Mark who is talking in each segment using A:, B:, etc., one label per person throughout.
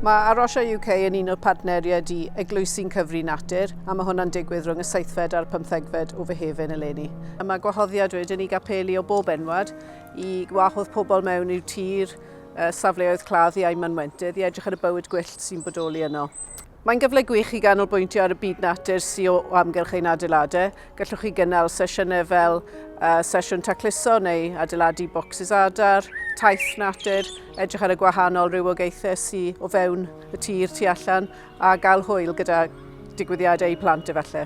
A: Mae Arosha UK yn un o'r partneriaid i Eglwysi'n Cyfri Natur, a mae hwnna'n digwydd rhwng y seithfed a'r pymthegfed o Fehefin eleni. Mae gwahoddiad wedyn i gapeli o bob enwad i wahodd pobl mewn i'w tir, safleoedd cladd iau mynwentydd i edrych ar y bywyd gwyllt sy'n bodoli yno. Mae'n gyfle gwych i ganolbwyntio ar y byd natur sy o amgylch ein adeiladau. Gallwch chi gynnal sesiynau fel uh, sesiwn tacluso neu adeiladu bocsys adar, taith natur, edrych ar y gwahanol rhywogaethau sy o fewn y tir tu allan a gael hwyl gyda digwyddiadau i plant efallai.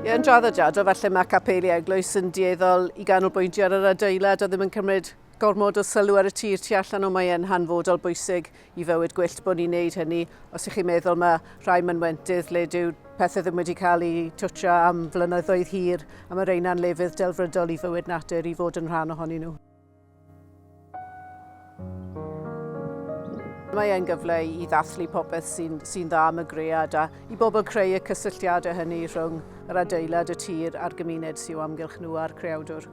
A: Ie, yn draddodiadol, falle mae capeli eglwys yn dieddol i ganolbwyntio ar yr adeilad a ddim yn cymryd Gormod o sylw ar y tir tu allan o mae e'n hanfodol bwysig i fywyd gwyllt bod ni'n neud hynny. Os ych chi'n meddwl mae rhai mynwentydd le dyw pethau ddim wedi cael eu twtio am flynyddoedd hir a mae reina'n lefydd delfrydol i fywyd natur i fod yn rhan ohonyn nhw. Mae e'n gyfle i ddathlu popeth sy'n sy dda am y gread a i bobl creu y cysylltiadau hynny rhwng yr adeilad, y tir a'r gymuned sy'n amgylch nhw a'r creawdwr.